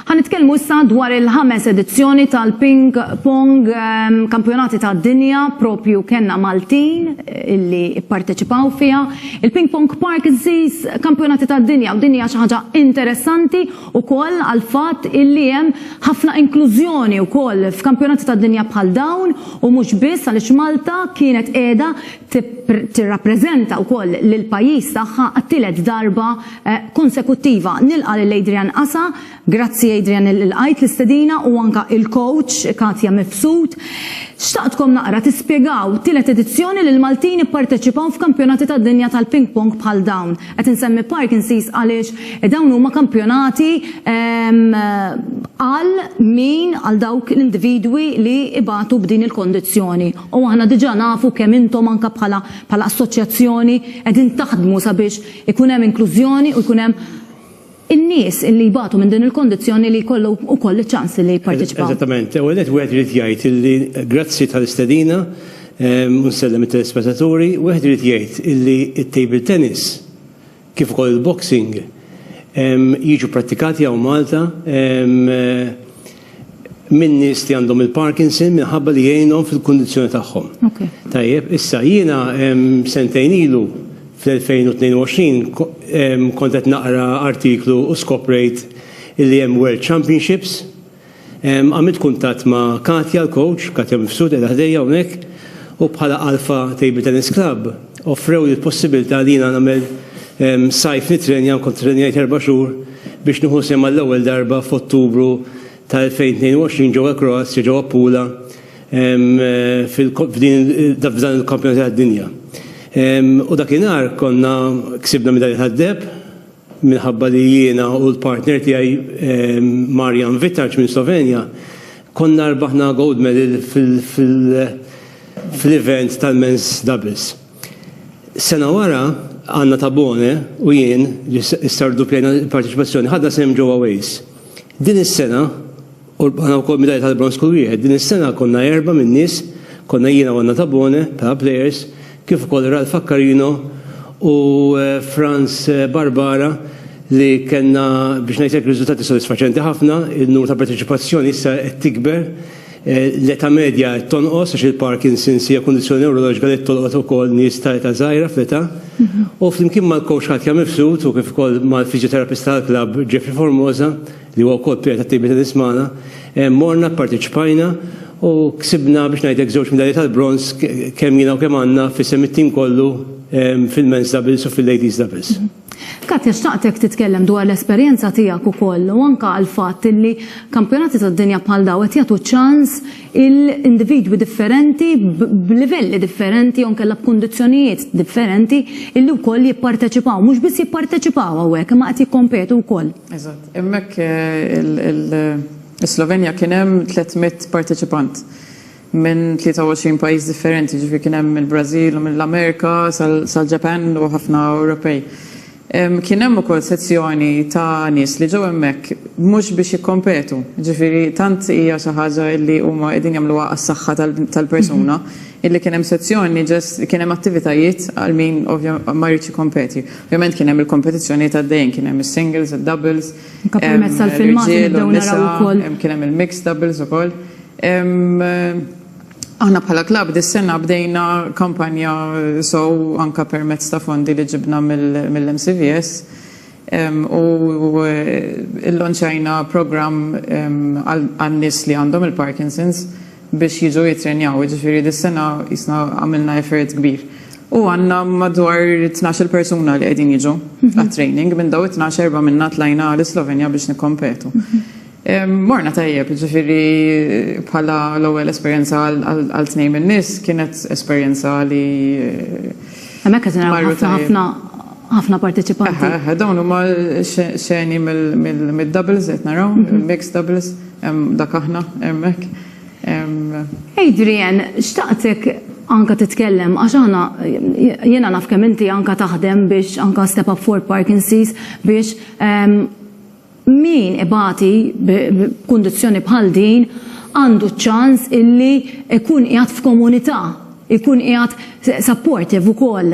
Ħanitkellmu issa dwar il-ħames edizzjoni tal-ping pong ehm, kampjonati ta' dinja propju kenna Maltin eh, illi parteċipaw fija. Il-ping pong park iżżis kampjonati ta' dinja u dinja xi ħaġa interessanti u koll għal-fat illi hemm ħafna inklużjoni u koll f'kampjonati ta' dinja bħal dawn u mhux biss għaliex Malta kienet qiegħda tirrappreżenta wkoll lill-pajjiż tagħha għat-tielet darba konsekuttiva. Nilqa' lil Adrian Asa, grazzi Adrian li lqajt l-istedina u anke il-coach Katia Mifsud. Xtaqtkom naqra tispjegaw, tielet edizzjoni li l-Maltin ipparteċipaw f'kampjonati tad-dinja tal-ping pong bħal dawn. Qed insemmi Parkinson's għaliex dawn huma kampjonati għal min, għal dawk l-individwi li ibatu b'din il-kondizzjoni. U aħna diġà nafu kemm intom anke bħala bħala assoċjazzjoni qegħdin taħdmu sabiex ikun hemm inklużjoni u jkun hemm in-nies illi jbatu minn din il-kondizzjoni li jkollu wkoll iċ-ċans illi jipparteċipaw. Eżattament. L-ewwel nett wieħed irid jgħid illi grazzi tal-istedina u nsellem it-telespettaturi, wieħed irid jgħid illi t-table tennis kif ukoll il-boxing jiġu pprattikati hawn Malta minn nies li għandhom il-Parkinson minħabba li jgħinhom fil-kundizzjoni tagħhom. Tajjeb, issa jiena sentejn ilu fl-2022 kont qed naqra artiklu u skoprejt li hemm World Championships Għamilt kuntatt ma' Katja, l-coach, Katja Mifsud qiegħda ħdejja hawnhekk, u bħala Alpha Table Tennis Club offrewli l-possibilità li jiena nagħmel sajf nittrenja, nkun ttrennjajt erba' xhur, biex nieħu sehem għall-ewwel darba f'Ottubru ta' 2022 ġewwa l-Kroazja, ġewwa Pula, f'dan il-kampjonati tad-dinja. U dakinhar konna, ksibna midalja tad-deheb. minħabba li jiena u l-partner tiegħi Marjan Vitarc minn Slovenja konna rbaħna gold medal fl-event tal-men's doubles. Sena wara, Anna Tabone u jien, li issa rdupplejna l-parteċipazzjoni, ħadna sehem ġewwa Wales. Din is-sena, U rbħna wkoll midalja tal-bronż kull wieħed. Din is-sena konna erbgħa min-nies, konna jiena u Anna Tabone bħala plejers, kif ukoll Ralph Accarino u Frans Barbara li kellna biex ngħidlek riżultati sodisfaċenti ħafna, in-numru ta' parteċipazzjoni issa qed tikber, l-età medja qed tonqos għax il-Parkinson's hija kundizzjoni newroloġika li qed tolqot ukoll nies ta' età żgħira fl-età. U flimkien mal-kowċ Katja Mifsud u kif ukoll mal-fiżjoterapista tal-klabb Jeffrey Formosa, li huwa wkoll pjena ta' tibni ta' din is-smana, morna, pparteċipajna u ksibna biex ngħidlek żewġ midalji tal-bronż kemm jiena u kemm Anna f'isem it-tim kollu fil-men's doubles u fil-ladies doubles. Katja, xtaqtek titkellem dwar l-esperjenza tiegħek ukoll u anke għall-fatt li kampjonati tad-dinja bħal dawn qed jagħtu ċans il-individwi differenti b'livelli differenti jew inkella b'kundizzjonijiet differenti illi wkoll jipparteċipaw. Mhux biss jipparteċipaw hawnhekk imma qed jikkompetu wkoll. Eżatt. Hemmhekk is-Slovenja kien hemm 300 parteċipant minn 23 pajjiż differenti, jiġifieri kien hemm mill-Brażil u mill-Amerika sal-Ġapan u ħafna Ewropej. Kien hemm ukoll sezzjoni ta' nies li ġew hemmhekk mhux biex jikkompetu, ġifieri tant hija xi ħaġa illi huma qegħdin jagħmluha għas-saħħa tal-persuna, illi kien hemm sezzjoni just kien hemm attivitajiet għal min ma jridx jikkompeti. Ovvjament kien hemm il-kompetizzjonijiet għaddejjin, kien hemm is-singles, id-doubles, ir-riġiel u n-nisa, kien hemm il-mixed doubles ukoll. Aħna bħala klabb dis-sena bdejna kampanja sew anke permezz ta' fondi li ġibna mill-MCVS u llonċajna programm għan-nies li għandhom il-Parkinson's biex jiġu jittrenjaw. Jiġifieri dis-sena qisna għamilna effort kbir. U għandna madwar tnax-il persuna li qegħdin jiġu għat-training. Minn dawn it-tnax, erbgħa minna tlajna l-Islovenja biex nikkompetu. Morna tajjeb, ġifiri bħala l-ewwel esperjenza għal tnejn minn nies kienet esperjenza li. Hemmhekk qed naraw ħafna ħafna parteċipanti. Dawn huma xeni mill-doubles qed naraw, mhm. mixed doubles, dak aħna hemmhekk. Adrian, xtaqtek anka titkellem, għax għana jena naf kemm inti anka taħdem biex anka step up for Parkinson's biex ehm, Min ibati b'kundizzjoni bħal din għandu ċ-ċans illi jkun qiegħed f'komunità, jkun qiegħed supportive ukoll,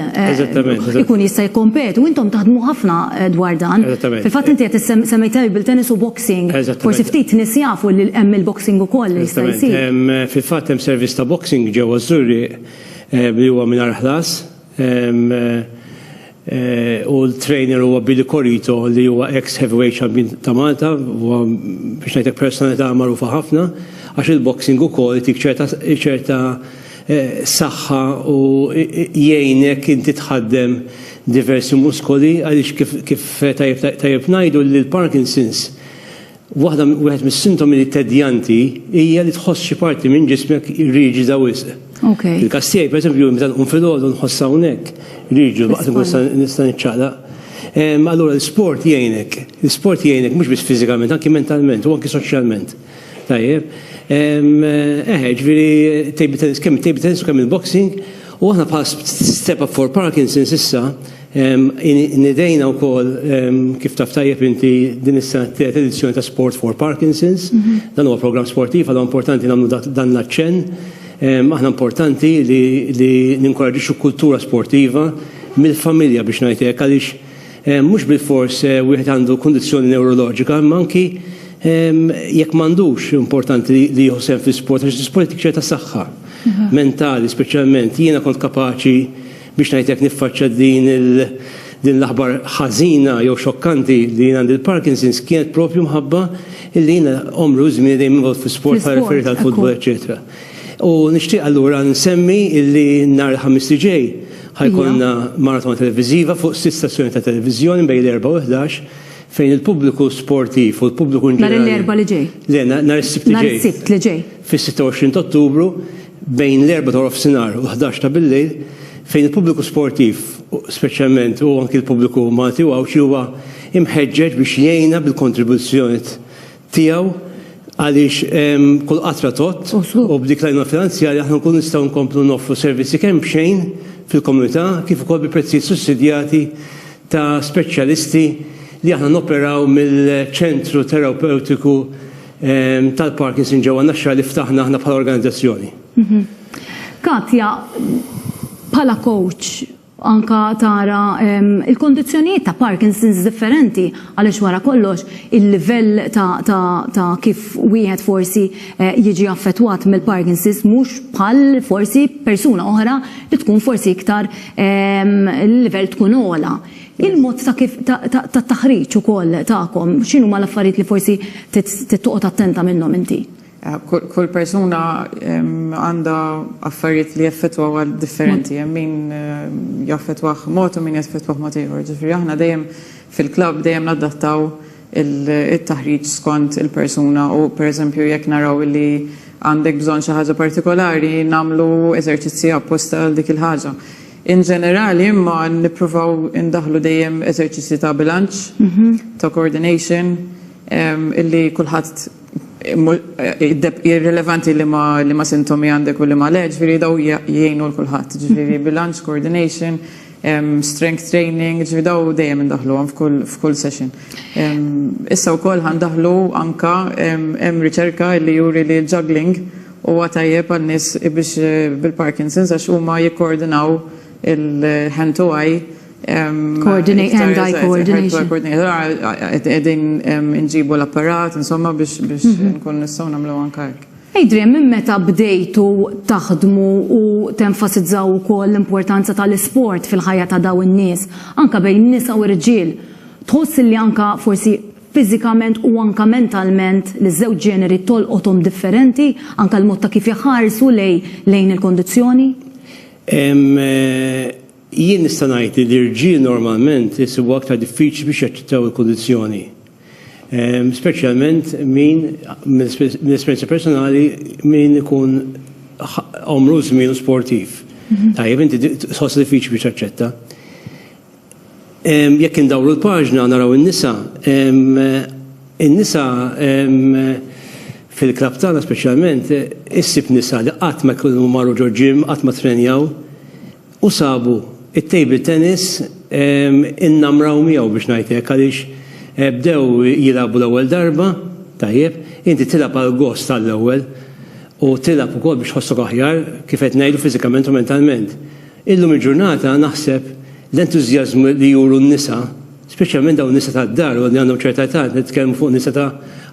ikun jista' jikkompeti u intom taħdmu ħafna dwar dan. Fil-fatt inti qed semmejt table tennis u boxing, forsi ftit nies jafu li hemm il-boxing ukoll li jista' jsir. Fil-fatt hemm servizz ta' boxing ġewwa ż-Żurrieq li huwa mingħajr ħlas. u l-trainer huwa Billy Corito li huwa ex heavyweight champion ta' Malta, huwa biex ngħidlek personalità magħrufa ħafna, għax il-boxing ukoll itik ċerta saħħa u jgħinek inti tħaddem diversi muskoli għaliex kif tajjeb ngħidu li l-Parkinson's Waħda wieħed mis-sintomi tedjanti hija li tħoss xi parti minn ġismek riġida wisq. Okay. Il-każ tiegħi pereżempju meta nqum filgħodu nħoss hawnhekk riġu waqt nkun nista' niċċaqlaq. Ehm, allura l-isport jgħinek, l-isport jgħinek mhux biss fiżikament, anki mentalment u anki soċjalment. Tajjeb. Ehm, eħe, eh, ġifieri table tennis, kemm table tennis u kemm il-boxing, u aħna bħal step up for Parkinson's issa Nidejna wkoll, kif taf tajjeb inti, din is-sena t-tielet edizzjoni ta' Sport for Parkinson's. Dan huwa programm sportiv, allura importanti nagħmlu dan l-aċċenn. Aħna importanti li ninkoraġġixxu kultura sportiva mill-familja biex ngħid hekk għaliex mhux bilfors wieħed għandu kundizzjoni newroloġika imma anki jekk m'għandux importanti li jieħu sehem fl-isport għax l-isport jagħtik ċerta saħħa mentali speċjalment. Jiena kont kapaċi Biex ngħid hekk niffaċċja din din l-aħbar ħażina jew xokkanti li jien għandi l-Parkinson's kienet propju mħabba li jiena għomri u żmieni dejjem involt fl-isport bħala referee tal-futbol eċċetera. U nixtieq allura nsemmi illi nhar il-Ħamis li ġej ħajkollna maratona televiżiva fuq sitt stazzjoni ta' televiżjoni bejn l-erbgħa u l-ħdax fejn il-pubbliku sportiv u l-pubbliku in ġenerali. Nhar l-Erbgħa li ġej. Le, nhar is-Sibt li ġej. Nhar is-Sibt li ġej. Fis-26 t'Ottubru bejn l-Erbgħa ta' Warofsinhar u l-ħdax ta' billejl fejn il-pubbliku sportiv speċjalment u anki l-pubbliku Malti u Għawdxi huwa imħeġġeġ biex jgħinna bil-kontribuzzjoniet tiegħu għaliex kull qatra tgħodd u b'dik l-għajnuna finanzjarja aħna nkunu nistgħu nkomplu noffru servizzi kemm b'xejn fil-komunità kif ukoll bi prezzijiet sussidjati ta' speċjalisti li aħna noperaw mill-Ċentru Terapewtiku tal-Parkinson ġewwa Naxxar li ftaħna aħna bħala organizzazzjoni. Mhm. Katja, bħala coach, anka tara il-kondizjonijiet ta' Parkinson's differenti għaliex wara kollox il-livell ta' kif wieħed forsi eh, jiġi affettwat mill-Parkinson's mhux bħal forsi persuna oħra li tkun forsi iktar il-livell tkun ola. Il-mod ta' kif tat-taħriġ ukoll tagħkom, x'inhuma l-affarijiet li forsi trid toqgħod attenta minnhom inti? Kull persuna għandha affarijiet li jaffettwawha differenti. Hemm min jaffettwah mod u min jaffettwah mod ieħor. Ġifieri aħna dejjem fil-klabb dejjem nadattaw it-taħriġ skont il-persuna u pereżempju jekk naraw li għandek bżonn xi ħaġa partikolari nagħmlu eżerċizzji apposta għal dik il-ħaġa. In ġenerali, imma, nippruvaw indaħħlu dejjem eżerċizzji ta' bilanċ, ta' coordination, illi kulħadd hi rilevanti liema sintomi għandek u liema le, ġifieri dawn jgħinu 'l kulħadd. Ġifieri bilanċ, coordination, strength training, ġifieri dawn dejjem indaħħluhom f'kull session. Issa wkoll ħa ndaħħlu anke hemm riċerka illi juri li l-juggling, Huwa tajjeb għal nies biex bil-Parkinson's għax huma jikkoordinaw il-hand to eye Coordinate and eye coordination. Edin nġibu l-apparat, insomma, biex mhm. nkun nistaw namlu għankajk. Adrian, minn meta bdejtu taħdmu u tenfasizzaw ukoll l-importanza tal-isport fil-ħajja ta' daw in-nies, anka bejn nisa u rġiel, tħoss li anka forsi fiżikament u anke mentalment liż-żewġ ġeneri tolqothom differenti, anke l-mod ta' kif jħarsu lejn il-kondizzjoni? Jien nista' ngħid li l-irġiel normalment isibuha aktar diffiċli biex jaċċettaw il-kondizzjoni. Speċjalment min, mill-esperjenza personali, min ikun għomru u żmienu sportiv. Tajjeb, inti tħossha diffiċli biex taċċetta. Jekk indawru l-paġna naraw in-nisa. In-nisa fil-klabb tagħna speċjalment issib nisa li qatt ma jkunu marru ġo gym, qatt ma ttrenjaw u sabu t-table tennis innamraw miegħu biex ngħid hekk għaliex bdew jilagħbu l-ewwel darba, tajjeb, inti tilgħab għall-gost għall-ewwel u tilgħab ukoll biex tħossok aħjar kif qed ngħidu fiżikament u mentalment. Illum il-ġurnata naħseb l-entużjażmu li juru n-nisa, speċjalment dawn in-nisa tad-dar u li għandhom ċerta età, nitkellmu fuq nisa ta'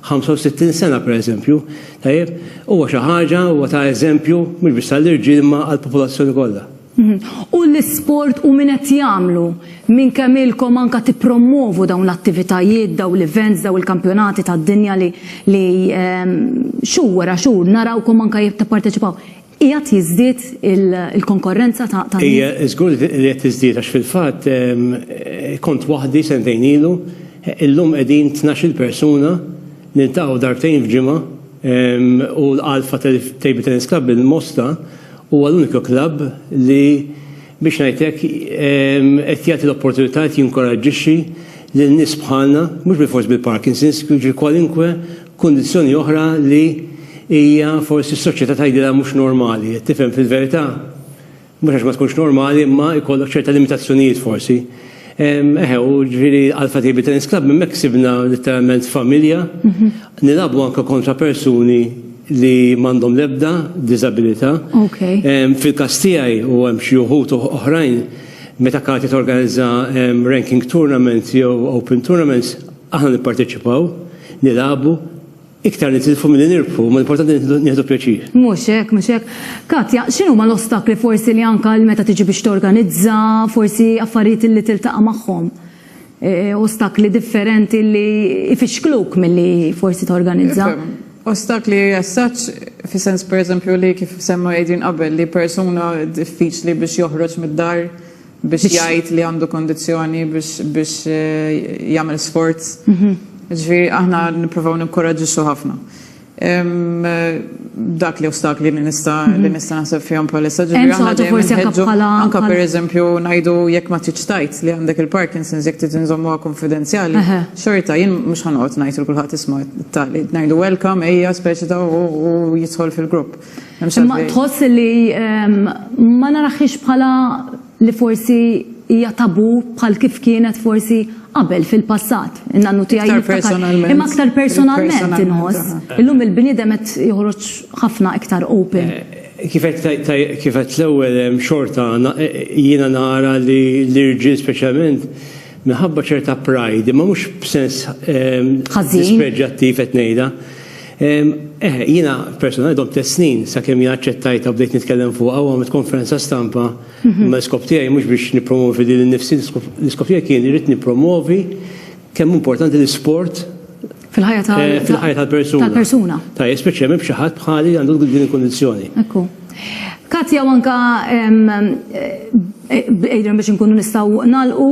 65 sena pereżempju, tajjeb, huwa xi ħaġa, huwa ta' eżempju mhux biss għall-irġiel imma għall-popolazzjoni kollha. U l-isport u min qed jagħmlu? Minn kemm ilkom anke tippromwovu dawn l-attivitajiet, dawn l-events, dawn il-kampjonati tad-dinja li xhur wara xhur narawkom anke tipparteċipaw? Qiegħed jiżdied il-konkorrenza ta' ta' Hija żgur li qed tiżdied għax fil-fatt kont waħdi sentejn ilu, illum qegħdin tnax-il persuna, niltaqgħu darbtejn f'ġimgħa u l-Alpha Table Tennis Club il-Mosta huwa l-uniku klabb li biex ngħid hekk qed jagħti l-opportunità qed jinkoraġġixxi lil nies bħalna, mhux bilfors bil-Parkinson's, jiġri kwalinkwe Kundizzjoni oħra li hija forsi s-soċjetà tgħidilha mhux normali, qed tifhem fil-verità, mhux għax ma tkunx normali imma jkollok ċerta limitazzjonijiet forsi. Eħe, u ġifieri Alpha Table Tennis Club hemmhekk sibna litteralment familja, nilagħbu anke kontra persuni li m'għandhom l-ebda diżabilità. Fil-każ tiegħi u hemm xi wħud oħrajn, meta Kati torganizza ranking tournament jew open tournaments, Aħna nipparteċipaw, nilagħbu, iktar nitilfu milli nirbħu, imma l-importanti li nieħdu pjaċir. Mhux hekk, mhux hekk. Katja, x'inhuma l-ostakli forsi li anke għal meta tiġi biex torganizza, forsi affarijiet illi tiltaqa' magħhom, ostakli differenti li jfixkluk milli forsi torganizza? Ostakli as such, fis-sens pereżempju li kif semma Adrian qabel li persuna diffiċli biex joħroġ mid-dar, biex jgħid li għandu kondizzjoni biex jagħmel sports. Mhm. Ġifieri aħna nippruvaw nikkoraġġixxu ħafna. Dak li ostakli li nista' mhm. li nista' naħseb fihom bħalissa ġifieri aħna dejjem anke pereżempju ngħidu jekk ma tridx tajt li għandek il-Parkinson's jekk trid inżommuha konfidenzjali. Xorta jien mhux ħanoqgħod ngħid il kulħadd isma' tali ngħidu welcome ejja speċi ta' u jidħol fil-grupp. Imma tħoss li ma naraħiex bħala li forsi hija tabu bħal kif kienet forsi qabel fil-passat. In-nannu tiegħi niftakar. Imma aktar personalment inħoss. Illum il-bniedem qed joħroġ ħafna iktar open. Kif għedt l-ewwel hemm xorta jiena nara li l-irġiel speċjalment minħabba ċerta pride, imma mhux b'sens dispreġġjattiv qed ngħidha. Eh, jiena personali dob tliet snin sakemm jien aċċettajtha bdejt nitkellem fuqha u għamilt konferenza stampa mhm. ma l-iskop tiegħi mhux biex nippromovi lil nifsi l-iskop tiegħi kien irid nippromovi kemm importanti l-isport fil-ħajja eh, tal-persuna. Tal-persuna. Tajja, speċjalment b'xi ħadd bħali għandu din il-kondizzjoni. Ekku. Katja anka ejra biex inkunu nistgħu nagħlqu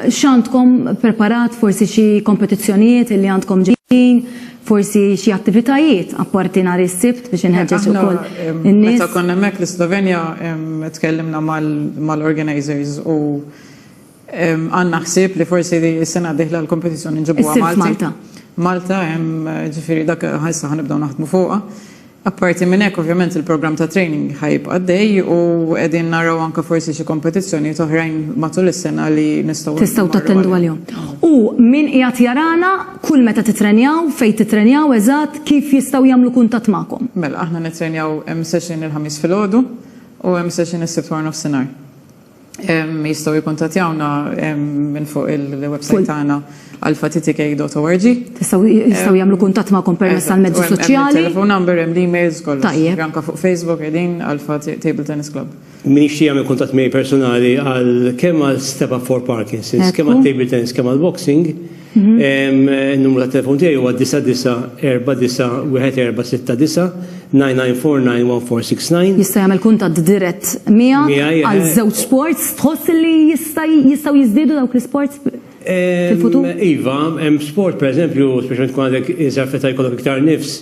x'għandkom preparat forsi xi kompetizzjonijiet li għandkom ġejjin, forsi xi attivitajiet apparti nhar is-Sibt biex inħeġġeġ ukoll in-nies. Meta konna hemmhekk l-Islovenja tkellimna mal-organizers u Għandna ħsieb li forsi s-sena d-dieħla l-kompetizzjoni nġibuha Malta. Malta. Malta, ġifieri dak ħajsa ħanibdew naħdmu fuqha. Apparti minn hekk, ovvjament il-programm ta' training ħajib għaddej u qegħdin naraw anke forsi xi kompetizzjonijiet oħrajn matul is-sena li nistgħu. Tistgħu tattendu għalihom. U min qiegħed jarana kull meta titrenjaw, fejn titrenjaw eżatt, kif jistgħu jagħmlu kuntatt magħkom? Mela, aħna nittrenjaw hemm session il-Ħamis filgħodu u hemm session is-Sibt waranofsinhar. Jistaw jikontatjawna minn fuq il-websajt tagħna alfatitk.org. Jistaw jagħmlu kuntatt magħkom permezz tal-mezzi soċjali. Telefon number hemm l-emails kollox. Tajjeb. Anka fuq Facebook qegħdin Alfa Table Tennis Club. Min jixtieq jagħmel kuntatt miegħi personali għal kemm għal Step Up for Parkinson's, kemm għat-table tennis, kemm għall-boxing, Numru ta' telefon tiegħi huwa 9949146999491469. Jista' jagħmel kuntatt dirett miegħek għal żewġ sports tħoss li jistgħu jiżdiedu dawk l-isports fil-futur? Iva, hemm sport pereżempju, speċjalment tkun għadek iżgħar fl-età jkollok iktar nifs,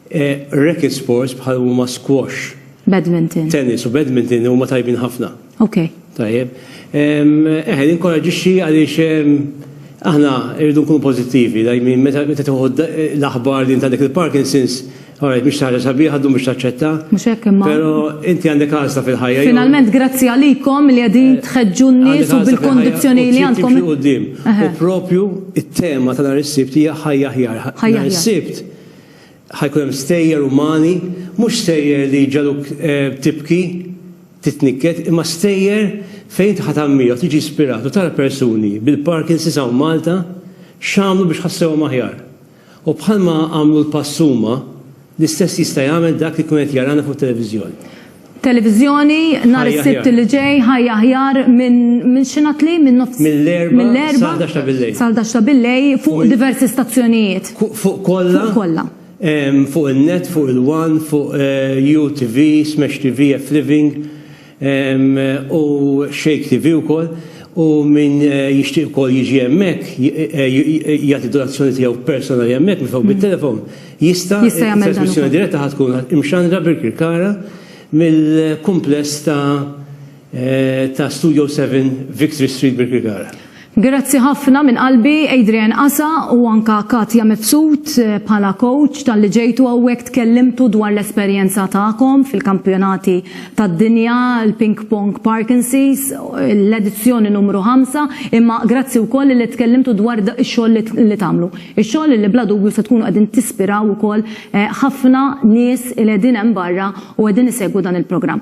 Racket sports bħal huma squash. Badminton. Tennis u badminton huma tajbin ħafna. Ok. Tajjeb. Eħe, ninkoraġixxi għaliex aħna rridu nkunu pożittivi, dajmin meta tieħu l-aħbar li inti għandek il-Parkinson's, Alright, biex taħġa sabiħ, għaddu biex taċċetta. Mux hekk imma. Pero inti għandek għazla fil-ħajja. Finalment, grazzi għalikom li għadin eh, tħedġu n-nis u bil-kondizjoni li għandkom. U propju il-tema tal-għar il-sibt hija ħajja ħjar. Ħajja ħjar. Ħa jkun hemm stejjer umani, mhux stejjer li jġagħluk tibki, titnikket, imma stejjer fejn inti ħa tammira u tiġi ispirat u tara persuni bil-Parkinson's hawn Malta x'għamlu biex ħassewhom aħjar. U bħalma għamlu l-pass huma, l-istess jista' jagħmel dak li jkun qed jarana fuq it-televiżjoni. Televiżjoni nhar is-Sibt li ġej, Ħajja Aħjar, minn xinatli? Minn nofs. Mill-Erbgħa sal-ħdax ta' billejl fuq diversi stazzjonijiet. Fuq kollha? Fuq kollha. Fuq in-net, fuq il-one, fuq UTV, Smash TV, F-Living u Shake TV wkoll. U min jixtieq ukoll jiġi hemmhekk jagħti donazzjoni tiegħu personali hemmhekk mifgħuħ bit-telefon. Jista' jagħmel dan. It-trasmissjoni diretta ħa tkun imxandra bil-kirkara mill-kumpless ta' Studio Seven, Victory Street, Birkirkara. Grazzi ħafna minn qalbi Adrian Casa u anke Katia Mifsud bħala coach talli ġejtu hawnhekk tkellimtu dwar l-esperjenza tagħkom fil-kampjonati tad-dinja, il-Ping Pong Parkinson's, l-edizzjoni numru ħamsa, imma grazzi wkoll li tkellimtu dwar ix-xogħol li tagħmlu. Ix-xogħol li bla dubju se tkunu qegħdin tispiraw ukoll ħafna nies li qegħdin hemm barra u qegħdin isegwu dan il-programm.